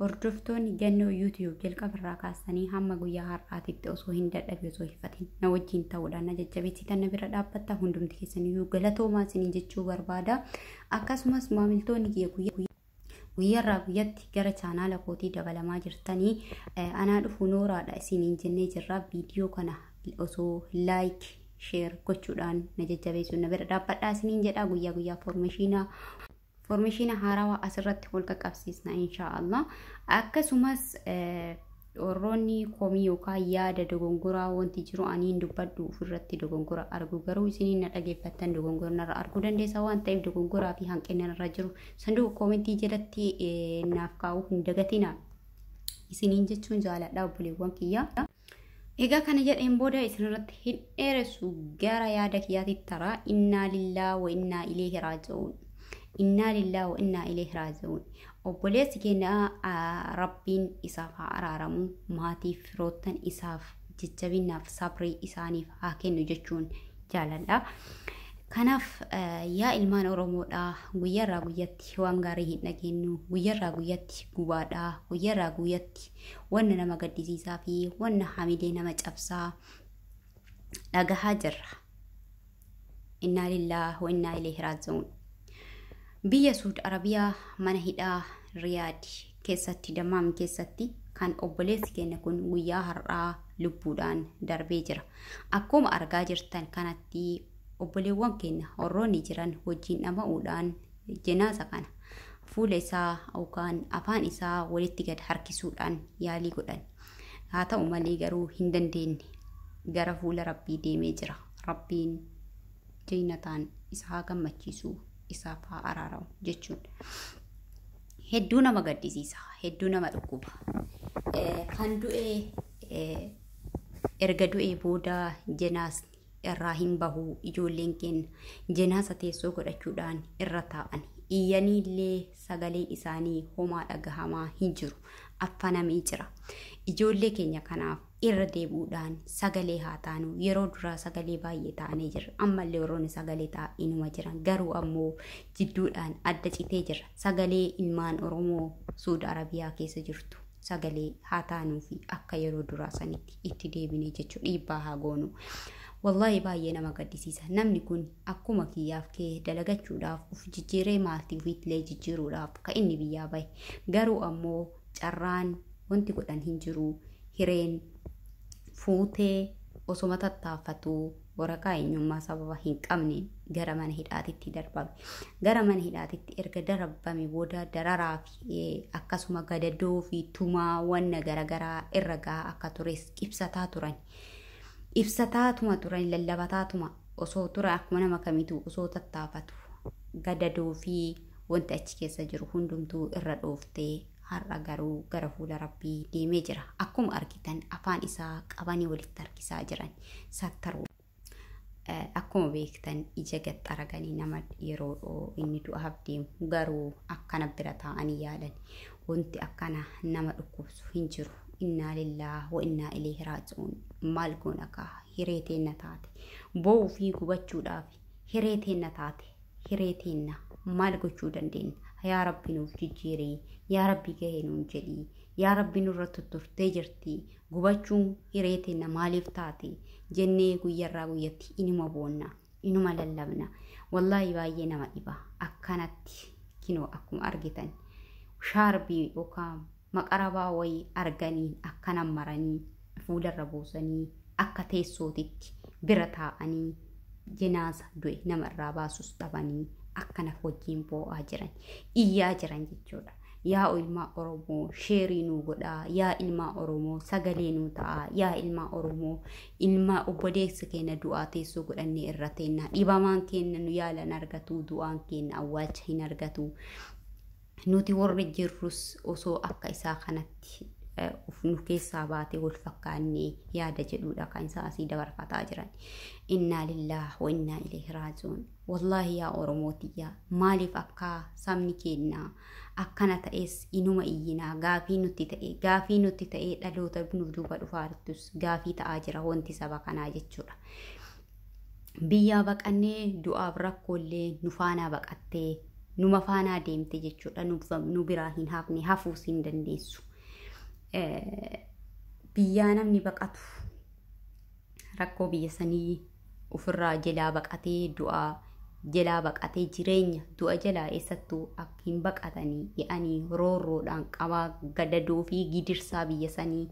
Hordoftoonni Gannoo YouTube jalqaba irraa kaastanii hamma guyyaa har'aatitti osoo hin dadhabe osoo hifatin na wajjin ta'uudhaan na jajjabeessitan na bira dhaabbatta hundumti keessaniyyuu galatoomaa isinii jechuu barbaada. Akkasumas maamiltoonni kiyya guyyaa guyyarraa guyyatti gara chaanaala kootii dabalamaa jirtanii anaa dhufu nooraadha isiniin jennee jirra viidiyoo kana osoo laayik sheer gochuudhaan na jajjabeessuun na bira dhaabbadhaa isiniin jedha guyyaa guyyaa foormeeshiinaa Foormeeshiina haarawaa asirratti wal qaqqabsiisna inshaa Allah. Akkasumas warroonni komii yookaan yaada dogongoraa wanti jiru aniin dubbadhu ofirratti dogongora argu garuu isiniin na dhageeffattan dogongora narra arguu dandeessa waan ta'eef dogongoraa fi hanqina narra jiru sanduuqa koomentii jalatti naaf kaa'uu hin dagatina isiniin jechuun jaaladha obboleewwan kiyyaa. Egaa kana jedheen booda isinirratti hin dheeressu gara yaada kiyyaatitti taraa innaa lillaa wa innaa ileehi raaji'uun. Innaa lillaa wa innaa ileehi raaji'uun. Obboleessi keenya ah, rabbiin isaaf haa araaramu maatiif firoottan isaaf jajjabinaaf sabrii isaaniif haa kennu jechuun jaaladha. Kanaaf eh, yaa ilmaan Oromoodhaa guyyaarraa guyyatti waan gaarii hin dhageenyu, guyyaarraa guyyatti gubaadhaa, guyyaarraa guyyatti wanna nama gaddisiisaa fi wanna hamilee nama cabsaa dhagahaa jirra. Innaa lillaah wa innaa ilayhi raaji'uun. Biyya Suud Arabiyaa mana hidhaa Riyaad keessatti Dammaam keessatti kan obboleessi keenya kun guyyaa har'aa lubbuudhaan darbee jira. Akkuma argaa jirtan kanatti obboleewwan keenya warroonni jiran wajjin dhama'uudhaan jenaasa kana fuula isaa yookaan afaan isaa walitti gad harkisuudhaan yaalii godhan. Haa ta'u malee garuu hin dandeenye. Gara fuula Rabbii deemee jira. Rabbiin jeenataan isa haa gammachiisu, isaaf haa araaramu jechuun. Hedduu nama gaddisiisa, hedduu nama dhukkuba. Eh, Kan du'e eh, erga du'ee booda jenaasni irraa hin bahu ijoolleen keenya jenaaza teessoo godhachuudhaan irra taa'an iyyaniillee sagaleen isaanii homaa dhagahamaa hin jiru affanamee jira ijoollee keenya kanaaf irra deebi'uudhaan sagalee haa taanu yeroo duraa sagalee baay'ee taanee jirra ammallee warroonni sagalee taa'inuma jiran garuu ammoo jidduudhaan adda citee jirra sagalee ilmaan oromoo suud arabiyaa keessa jirtu sagalee haa taanuu fi akka yeroo duraa sanitti itti deebinee jechuu dhiibbaa haa goonu. Wallaahi baay'ee nama gaddisiisa. Namni kun akkuma kiyyaaf kee dalagachuudhaaf uf jijjiiree maatii ofiitillee jijjiiruudhaaf ka inni biyyaa bahe. Garuu ammoo carraan wanti godhan hin jiru. Hireen fuutee osoma tattaafatu waraqaa eenyummaa sababa hin qabneen gara mana hidhaatitti darbame. Gara mana hidhaatitti erga darbame booda dararaa fi akkasuma gadadoo fi tumaa wanna garaagaraa irra gahaa akka tures ibsataa turan. Ibsataatuma turan lallabataatuma osoo tura akkuma nama kamitu osoo tattaafatu gadadoo fi wanti achi keessa jiru hundumtuu irra dhooftee har'a garuu gara fuula rabbii deemee jira. Akkuma argitan afaan isaa qabanii walitti harkisaa jiran. sattaru. Akkuma beektan ija gad xaraganii nama yeroo inni du'aaf deemu garuu akkana bira taa'anii yaalan. Wanti akkana nama dhukkubsu hin jiru. Innaa lillaah wa innaa ileehi raaji'uun. Maal goona kaa hiree teenna taate. Bo'uu fi gubachuudhaaf hiree teenna taate. Hiree teenna maal gochuu dandeenya? Yaa Rabbi nuuf jijjiirii. Yaa Rabbi gahee nuun jedhii. Yaa Rabbi nurra tutturtee jirti. Gubachuun hiree teenna maaliif taate jennee guyyarraa guyyatti inuma boonna, inuma lallabna. Wallaahi baay'ee nama dhiba. Akkanatti kinoo akkuma argitan shaarbii yookaan maqarabaa wayii arganii akkana maranii fuularra buusanii akka teessootitti bira taa'anii jenaaza du'e nama irraa baasus dhabanii akkana wajjin boo'aa jiran, iyyaa jiran jechuudha. Yaa ilmaa Oromoo sheerii nuu godhaa yaa ilmaa Oromoo sagalee nuu ta'aa yaa ilmaa Oromoo ilmaa obboleessa keenya du'aa teessoo godhannee irra teennaa dhibamaan keenya nu yaala hin argatu du'aan keenya awwaalcha hin argatu nuti warri jirrus osoo akka isaa kanatti eh, of nu keessaa baate wal fakkaannee yaada jedhuudha kan isaa asii dabarfataa jiran innaa lillaah wa innaa ilayhi raaji'uun Wallaahi yaa Oromoo tiyya maaliif akka sabni keenna akkana ta'es inuma iyyina gaafii nutti ta'e gaafii nutti ta'e dhaloota nu duuba dhufaartus gaafii ta'aa jira wanti saba kanaa jechuudha. Biyyaa baqannee du'aaf rakkoollee nu faanaa baqattee numa faanaa deemte jechuudha nu biraa hin hafne hafuus hin dandeessu. Biyyaa namni baqatu rakkoo biyya sanii ofirraa jelaa baqatee du'aa jelaa baqatee jireenya du'a jelaa eessattuu akka hin baqatanii jedhanii roorroodhaan qabaa gadadoo fi gidirsaa biyya sanii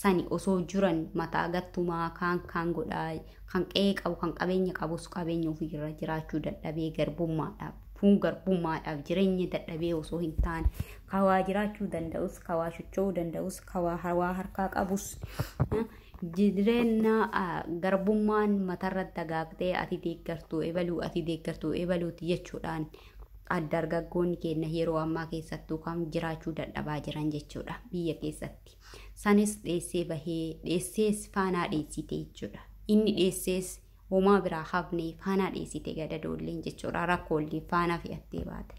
sani osoo jiran mataa gattumaa kaan kaan godhaa kan qe'ee qabu kan qabeenya qabus qabeenya ofiirra jiraachuu dadhabee garbummaadhaaf fuun garbummaadhaaf jireenya dadhabee osoo hin taane kawaa jiraachuu danda'us kawaa socho'uu danda'us kawaa hawaa harkaa qabus Jireenya garbummaan matarra dagaagdee ati deeggartuu ebaluu ati deeggartuu ebaluuti jechuudhaan dargaggoonni keenya yeroo ammaa keessattuu kan jiraachuu dadhabaa jiran jechuudha biyya keessatti. Sanis dheessee bahee dheessees faanaa dheessite jechuudha. Inni dheessees Homaa biraa hafnee faanaa dhiisite gadadoolleen jechuudha rakkoollee faanaa fe'attee baate.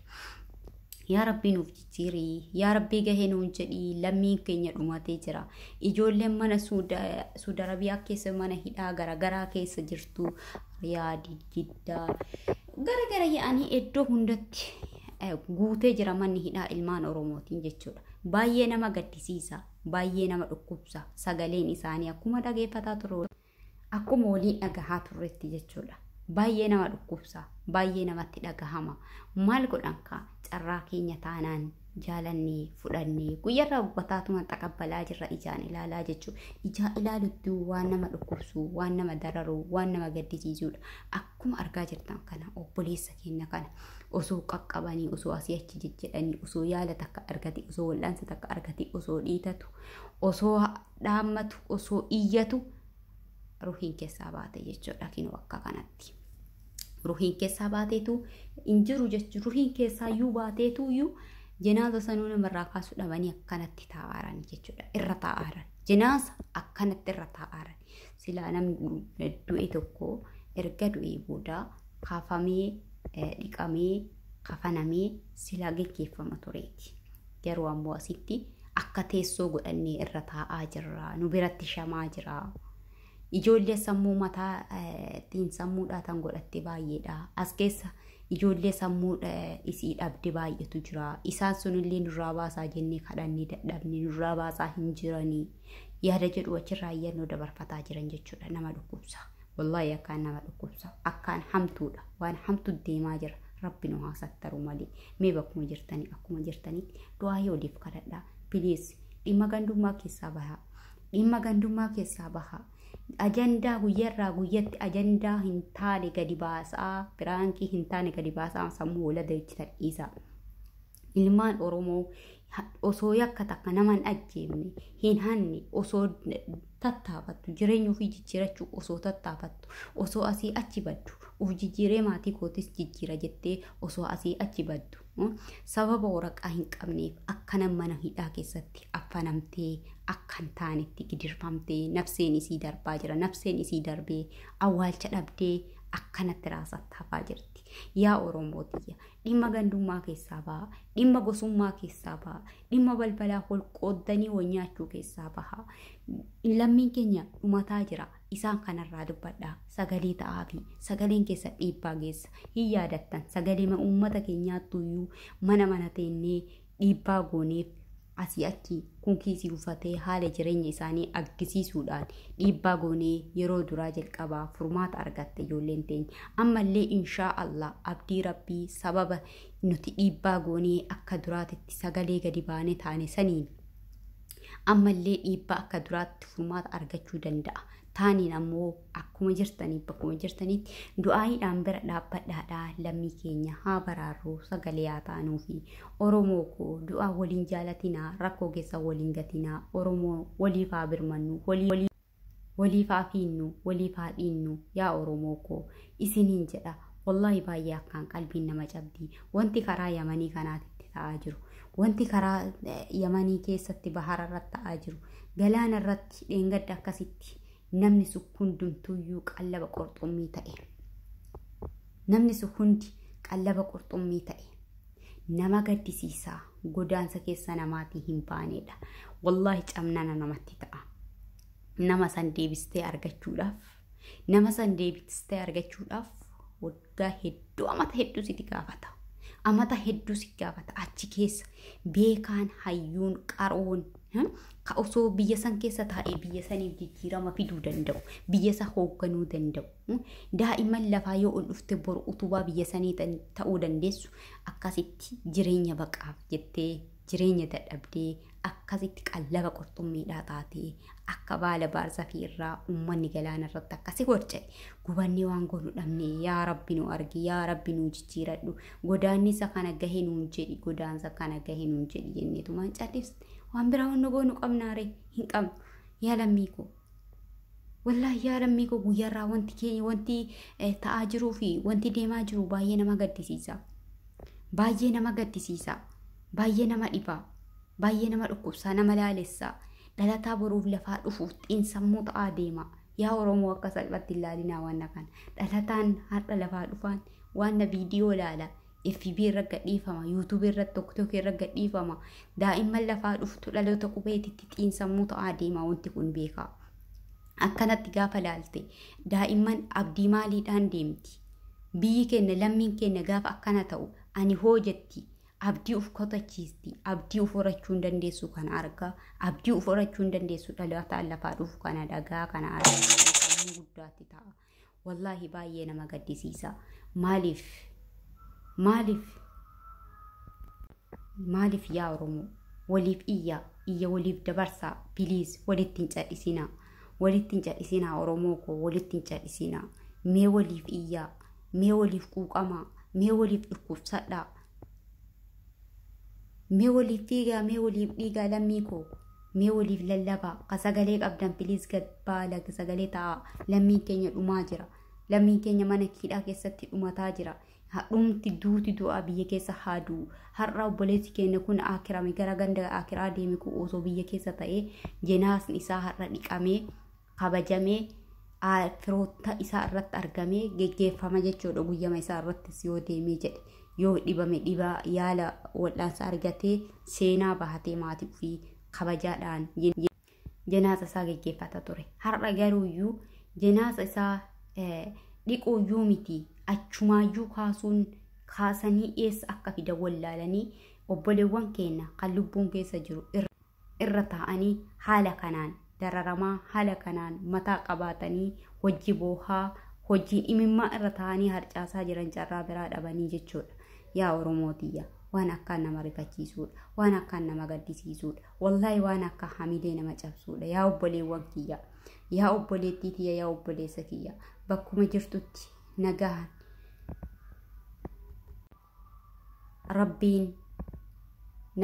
Yaa Rabbii nuuf jijjiirii, yaa Rabbii gahee nuun jedhii, lammiin keenya dhumatee jira. Ijoolleen mana Suudi Arabiyaa keessa mana hidhaa garaagaraa keessa jirtu, Riyaadi, Jiddaa, garaagara yaa'anii iddoo hundatti guutee jira manni hidhaa ilmaan Oromootiin jechuudha. Baay'ee nama gaddisiisa, baay'ee nama dhukkubsa, sagaleen isaanii akkuma dhageeffataa turre. Akkuma waliin dhagahaa turretti jechuudha. Baay'ee nama dhukkubsa, baay'ee namatti dhagahama. Maal godhan kaa carraa keenya taanaan jaalannee fudhannee guyyarraa gubbataatuma xaqabbalaa jirra ijaan ilaalaa jechuu ijaa ilaalutti waan nama dhukkubsu waan nama dararu waan nama gaddisiisuudha akkuma argaa jirtan kana obboleessa keenya kana osoo qaqqabanii osoo asii achi jijjidhanii osoo yaala takka argate osoo wal'aansa takka argate osoo dhiitatu osoo dhaammatu osoo iyyatu ruhiin keessaa baate jechuudha kinoo akka kanatti. Ruhiin keessaa baateetu hin jiru jechuun ruhiin keessaa iyyuu baateetu iyyuu jenaaza sanuu namarraa kaasuu dhabanii akkanatti taa'aaran jechuudha irra taa'aaran jenaaza akkanatti irra taa'aaran silaa namni du'e tokko erga du'ee booda kaafamee dhiqamee kafanamee silaa geggeeffama tureeti. Garuu ammoo asitti akka teessoo godhannee irra taa'aa jirra. Nu biratti shamaa jira. Ijoollee sammuu mataa xiinsammuudhaa tan godhatte baay'eedha. As keessa ijoollee sammuu isii dhabde baay'eetu jira. Isaan sunillee nurraa baasaa jennee kadhannee dadhabne nurraa baasaa hin jiranii. Yaada jedhu achirraa iyyannoo dabarfataa jiran jechuudha nama dhukkubsa. Wallahi akkaan nama dhukkubsa. Akkaan hamtuudha. Waan hamtu deemaa jira. Rabbi nu haa sattaru malee. Mee bakkuma jirtanii akkuma jirtanitti du'aahii oliif kadhadhaa. Please dhimma gandummaa keessaa bahaa. Dhimma gandummaa keessaa bahaa. Ajandaa guyyarraa guyyatti ajandaa hin taane gadi baasaa. Biraankii hin taane gadi baasaa sammuu hoolata jechitan dhiisaa. Ilmaan Oromoo osoo yakka takka nama hin ajjeefne, hin hanne, osoo tattaafattu, jireenya ofii jijjiirachuu osoo tattaafattu, osoo asii achi baddu, of jijjiiree maatii kootis jijjiira jettee osoo asii achi baddu, sababa waraqaa hin qabneef akkana mana hidhaa keessatti affanamtee akka hin taanetti gidirfamtee nafseen isii darbaa jira. Nafseen isii darbee awwaalcha dhabdee akkanatti raasatti hafaa jirti. Yaa Oromoo tiyya dhimma gandummaa keessaa baha dhimma gosummaa keessaa baha dhimma balbalaa wal qooddanii wal nyaachuu keessaa baha lammiin keenya dhumataa jira isaan kanarraa dubbadha sagalee ta'aa fi sagaleen keessa dhiibbaa geessa hin yaadattan sagalee uummata keenyaattu iyyuu mana mana teennee dhiibbaa gooneef asii achi kun kiisii ufatee haala jireenya isaanii argisiisuudhaan dhiibbaa goonee yeroo duraa jalqabaa furmaata argatte ijoolleen teenya ammallee inshaa allah abdii rabbii sababa nuti dhiibbaa goonee akka duraatitti sagalee gadi baane taane saniin ammallee dhiibbaa akka duraatti furmaata argachuu danda'a taaniin ammoo akkuma jirtanii bakkuma jirtanitti du'aayiidhaan bira dhaabbadhaadhaa lammii keenya haa baraarru sagalee haa taanuu fi Oromoo koo du'aa waliin jaalatinaa rakkoo keessa waliin gatinaa Oromoo waliif haa birmannu walii waliif haa fiinnu waliif haa dhiinnu yaa Oromoo koo isiniin jedha wallaahi baay'ee akkaan qalbiin nama cabdi wanti karaa yamanii kanaatitti ta'aa jiru wanti karaa yamanii keessatti bahara irratti ta'aa jiru galaana irratti dheengadda akkasitti namni sun hundumtuuyyuu qallaba qurxummii ta'e. Namni sun hundi qallaba qurxummii ta'e. Nama gaddisiisaa godaansa keessa namaatii hin baaneedha. Wallaahi cabnana namatti ta'a. Nama san deebistee argachuudhaaf nama san deebistee argachuudhaaf waggaa hedduu amata hedduu siti gaafata. Amata hedduu si gaafata achi keessa beekaan hayyuun qaroon hmm, ka osoo biyya san keessa taa'ee biyya saniif jijjiirama fiduu danda'u biyya isaa hoogganuu danda'u hmm. daa'imman lafaa yoo ol dhufte boru utubaa biyya sanii tan- ta'uu dandeessu akkasitti jireenya baqaaf jettee jireenya dadhabdee akkasitti qallaba qurxummiidhaa taatee akka baala baarzafii irraa uummanni galaana irratti akkasi warca'e gubannee waan goonu dhabne yaa rabbi nu argi yaa rabbi nu jijjiiradhu godaannisa kana gahe nuun jedhi godaansa kana gahe nuun jedhi jenneetumaan callis waan biraa wanna goonu qabnaare hin qabnu yaa lammii koo Wallaahi yaa lammii koo guyyaarraa wanti kee wanti eh, ta'aa jiruu fi wanti deemaa jiru baay'ee nama gaddisiisa. Baay'ee nama gaddisiisa. Baay'ee nama dhiba. Baay'ee nama dhukkubsaa nama laalessa. Dhalataa boruuf lafaa dhufuuf xiinsammuu ta'aa deema. Yaa Oromoo akka salphatti hin laalinaa waan kana. Dhalataan har'a lafaa dhufaan waan viidiyoo laala. fb irra gadhiifama youtube irra tokkotook irra gadhiifama daa'imman lafaa dhuftu dhaloota qubeetitti xiinsammuu ta'aa deemaa wanti kun beekaa akkanatti gaafa laalte daa'imman abdii maaliidhaan deemti biyyi keenya lammiin keenya gaafa akkana ta'u ani hoo jetti abdii uf kotachiisti abdii uf horachuu hin dandeessu kana argaa abdii uf horachuu hin dandeessu dhalootaan lafaa dhufu kana dhagaa kana argaa sammuu guddaatti ta'a. Wallaahi baay'ee nama gaddisiisa. Maaliif? Maaliif? Maaliif yaa Oromoo? Waliif iyyaa, iyya waliif dabarsaa. Piliis walitti hin cadhisinaa. Walitti hin cadhisinaa Oromoo koo walitti hin cadhisinaa. Mee waliif iyyaa, mee waliif quuqamaa, mee waliif dhukkubsadhaa. Mee waliif fiigaa, mee waliif dhiigaa lammii koo. Mee waliif lallabaa. Ka sagalee qabdan please gad baa lag sagalee ta'aa. Lammiin keenya dhumaa jira. Lammiin keenya mana hidhaa keessatti dhumataa jira. Dhumti duuti du'aa biyya keessa haa du'u. Har'a obboleessi keenya kun akirame gara ganda akiraa deeme kun osoo biyya keessa ta'ee jenaasni isaa har'a dhiqamee kabajamee firoota isaa irratti argamee geggeeffama jechuudha guyyama isaa irrattis yoo deemee jedhe yoo dhibame dhibaa yaala wal'aansa argatee seenaa bahatee maatii ofii kabajaadhaan jenaaza isaa geggeeffata ture har'a garuu iyyuu jenaaza isaa dhiquu iyyuu miti achumaayyuu kaasuun kaasanii eessa akka fidan wallaalanii obboleewwan keenya kan lubbuun keessa jiru irra irra taa'anii haala kanaan dararamaa haala kanaan mataa qabaatanii hojii boohaa hojiin imimmaa irra taa'anii harcaasaa jiran carraa biraa dhabanii jechuudha. Yaa Oromoo tiyya waan akkaan nama rifachiisuudha. Waan akkaan nama gaddisiisuudha. Wallaahi waan akka hamilee nama cabsuudha. Yaa obboleewwan kiyya. Yaa obboleettii tiyya yaa obboleessa kiyya. Bakkuma jirtutti nagaan rabbiin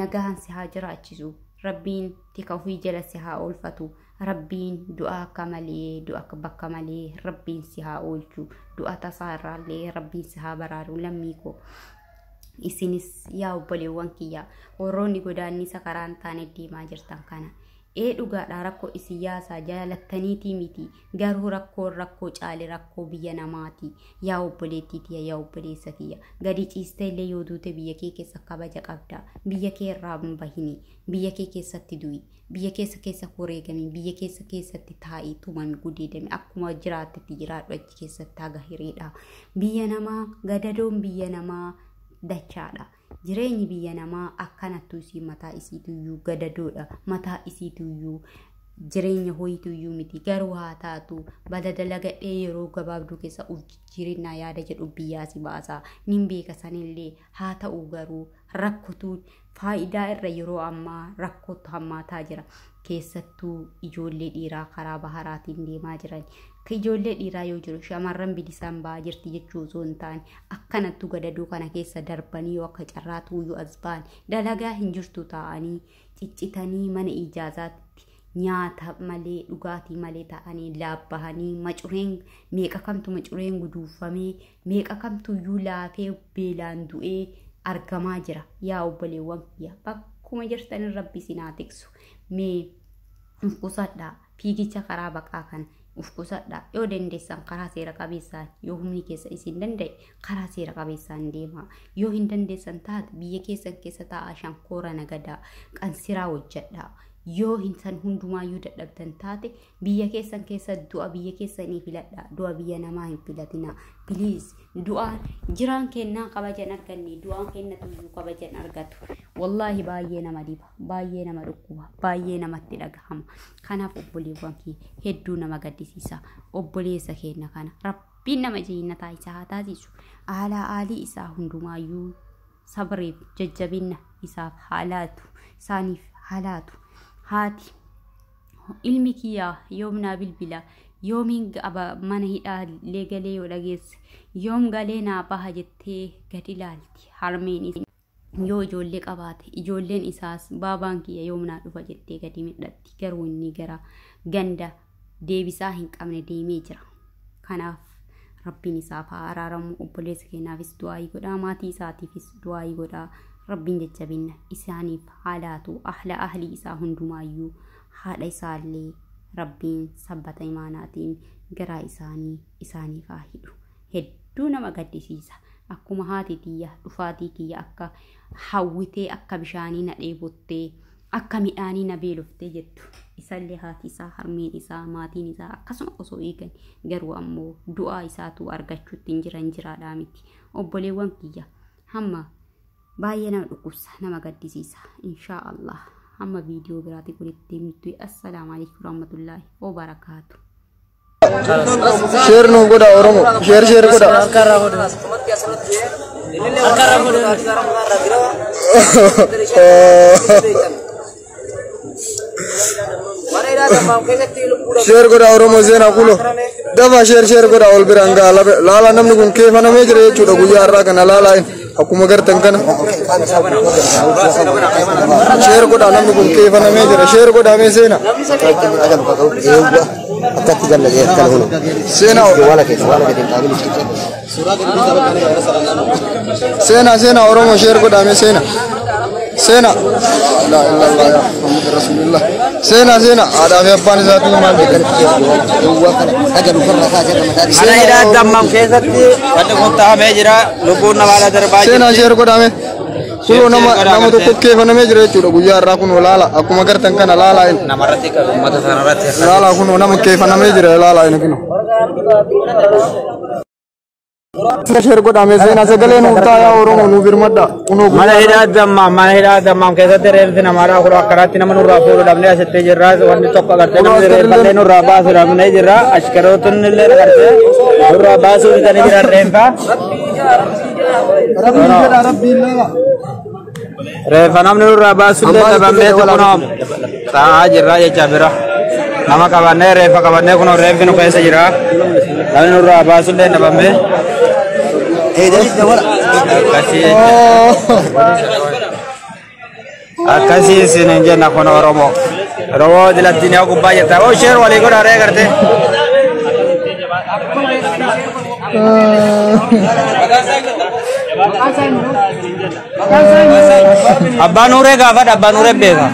nagahan si haa jiraachisu rabbiin tika ofii jala si haa oolfatu rabbiin du'a akka malee du'a akka bakka malee rabbiin si haa oolchu du'a tasaa irraallee rabbiin si haa baraaru lammii koo isinis yaa obboleewwan kiyya warroonni godaannisa karaa hin taane deemaa jirtan kana Ee dhugaadha rakko isiyaasa jaalattaniitii miti garuu rakkoon rakkoo caale rakkoo biyya namaati yaa obboleettii tiya yaa obboleessa kiyya gadi ciiste illee yoo duute biyya kee keessa kabaja qabda biyya kee irraa hin bahini biyya kee keessatti du'i biyya keessa keessa wareegami biyya keessa keessatti taa'i tumami gudeedami akkuma jiraattetti jiraadhu achi keessatti haga hiriidha biyya namaa gadadoon biyya namaa dachaadha Jireenyi biyya namaa akkanattu isiin mataa isiituyyuu gadadoodha. Mataa isiituyyuu jireenya hoyituyyuu miti. Garuu haa taatu bada dalagadhee yeroo gabaabduu keessa of jijjiirinnaa yaada jedhu biyyaa si baasa. Nin beeka sanillee haa ta'u garuu rakkotuun faayidaa irra yeroo ammaa rakkootu hammaataa jira. keessattuu ijoollee dhiiraa karaa baharaatiin deemaa jiran ka ijoollee dhiiraa yoo jiru shamarran bilisaan ba'aa jirti jechuu osoo hin taane akkanattu gadadoo kana keessa darbanii yoo akka carraa tuuyyuu as ba'an dalagaa hin jirtu taa'anii ciccitanii mana ijaazaatti nyaata malee dhugaatii malee taa'anii laabbahanii macureen meeqa kamtu macureen guduunfamee Meeqa kamtuyyuu laafee beelaan du'ee argamaa jira. Yaa obboleewwan kiyya bakkuma jirtanin rabbi isin haa tiksu. Mee of qusadhaa fiigicha karaa baqaa kana of qusadhaa yoo dandeessan karaa seera qabeessaan yoo humni keessa isin danda'e karaa seera qabeessaan deemaa yoo hin dandeessan taate biyya keessan keessa taa'aa shankoora nagadaa qansiraa hojjedhaa yoo hin san hundumaayyuu dadhabdan taate Biyya keessan keessa du'a biyya keessanii filadha. Du'a biyya namaa hin filatina. Please du'aan jiraan kennaa kabajan arganne du'aan kenna tuyyuu kabajan argatu. Wallaahi baay'ee nama dhiba, baay'ee nama dhukkuba, baay'ee namatti dhagahama. Kanaaf obboleewwan kiyya hedduu nama gaddisiisa. Obboleessa keenya kana rabbiin nama jeennataa isaa haa taasisu. Haalaa aalii isaa hundumaayyuu sabriif jajjabinna isaaf haa laatu. Isaaniif haa laatu. Haati ilmi kiyya yoom naa bilbila yoomiin aba mana hidhaa illee galee yoo dhageesse yoom galee naa baha jettee gad ilaalti harmeen is- yoo ijoollee qabaate ijoolleen isaas baabaan kiyya yoom naa dhufa jettee gadi midhatti garuu inni gara ganda deebisaa hin qabne deemee jira. kanaaf rabbiin isaaf haa araaramu obboleessa keenyaafis du'aayii godhaa maatii isaatiifis du'aayii godhaa rabbiin jajjabinna isaaniif haa laatu ahla ahlii isaa hundumaayyuu haadha isaallee rabbiin sabbata imaanaatiin garaa isaanii isaaniif haa hidhu hedduu nama gaddisiisa akkuma haati tiyya dhufaatii kiyya akka hawwitee akka bishaanii na dheebottee Akka midhaanii na beelofte jettu. Isallee haati isaa, harmeen isaa, maatiin isaa akkasuma osoo eegan garuu ammoo du'aa isaatu argachuutti hin jiran jiraadhaa miti. Obboleewwan kiyya hamma baay'ee nama dhukkubsa nama gaddisiisa. Inshaa Allah hamma viidiyoo biraatiin walitti deemnutti assalaamu alaikum warahmatullaahi wabarakaatu. Sheer nuuf godha Oromo. Sheer sheer godha. Sheer godha Oromo seenaa kulo. Dafa sheer sheer godha ol biraan ga'a. Laala namni kun keefanamee jira jechuudha guyyaa har'aa kana laalaa inni. Akkuma gartan kana sheer godhaa namni kun keefanamee jira sheer godhaa mee seena. Akkatti galla jee akkana hunu. Seena Wala keessa wala gadi hin taa'in. seena seena Oromoo sheer godhaa mee seena. Seena. Laa ilaa laa yaa Muhammad Rasulillah. Seena seena haadhaa fi abbaan isaatii maal jedhan. Duwwaa kana haga lukarraa kaasee kan mataa Mana hidhaa dammam keessatti wanti kun taa'amee jira. Lubbuun namaa ala darbaa Seena jirti. sheer godhame. Kunoo nama godhame, nama tokko seena. keefamee jira jechuudha guyyaa har'aa kun laala akkuma gartan kana laala inni. Namarratti qabu uummata sanarratti. Laala kunoo nama keefamee jira laala inni kunoo. Sina sheer godhame seenaa sagalee nuuf taayaa Oromoo nuuf birmadha. Kunoo Mana hidhaa dammaam mana hidhaa dammaam keessatti reeffi namaadhaa kun akkanaatti nama nurraa fuudhu dhabnee asitti jirra wanni tokko agartee namni reeffallee nurraa baasu dhabnee jirra ashkarootni illee agartee nurraa baasuu didanii jiran reeffa. Rabbiin jedha rabbiin lala. Reeffa namni nurraa baasullee dhabamnee kunoo taa'aa jirra jecha bira. Nama qabannee reeffa qabannee kunoo reeffi nu keessa jira. Namni nurraa baasullee dhabamnee. Akkasii akkasii isin hin jenna kun Oromoo. Oromoo dilattiin yoo gubbaa jirta. Oo sheer walii godha ree gartee. Abbaa Nuuree gaafadha, Abbaa Nuuree beeka.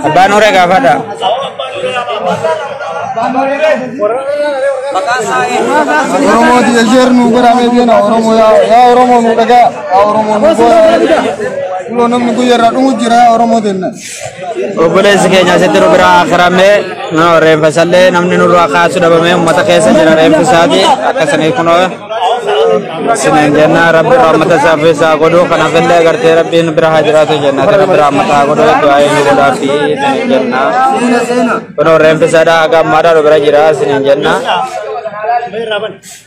Abbaa Nuuree gaafadha. Oromoo tiya sheer nuu godhaa mee beena Oromoo yaa yaa Oromoo nuu dhagaa yaa Oromoo nuu godhaa. Kuloo namni guyyaa irraa dhumu jira yaa Oromoo tenna. Obboleessi keenya asitti nu biraa akirame reenfa isallee namni nurraa kaasu dhabamee uummata keessa jira reenfi isaati akkasanii kunoo isiniin jenna rabbi raammata isaa fi isaa godhu kanaaf illee agartee rabbiin bira haa jiraatu jenna ati rabbi raammata haa godhu du'aa inni godhaa fi isiniin jenna kunoo reenfi isaadha haga ammaadha nu bira jira isiniin jenna.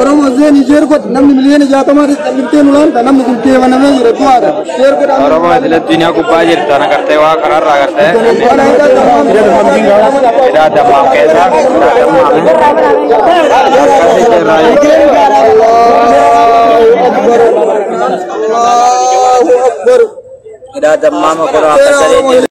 Oromoo zeen isheer godhe namni miliyoona jaatamaa ta'e calliftee nu laanta namni kun keebanamee jira du'aadha. Isheer godhe Oromoo isin addunyaa gubbaa jirtan agartee waa kanarra agartee hidhaa dammaaf keessaa hidhaa dammaaf akkasii irraa Allahu Akbar. hidhaa dammaama godhaa akka saree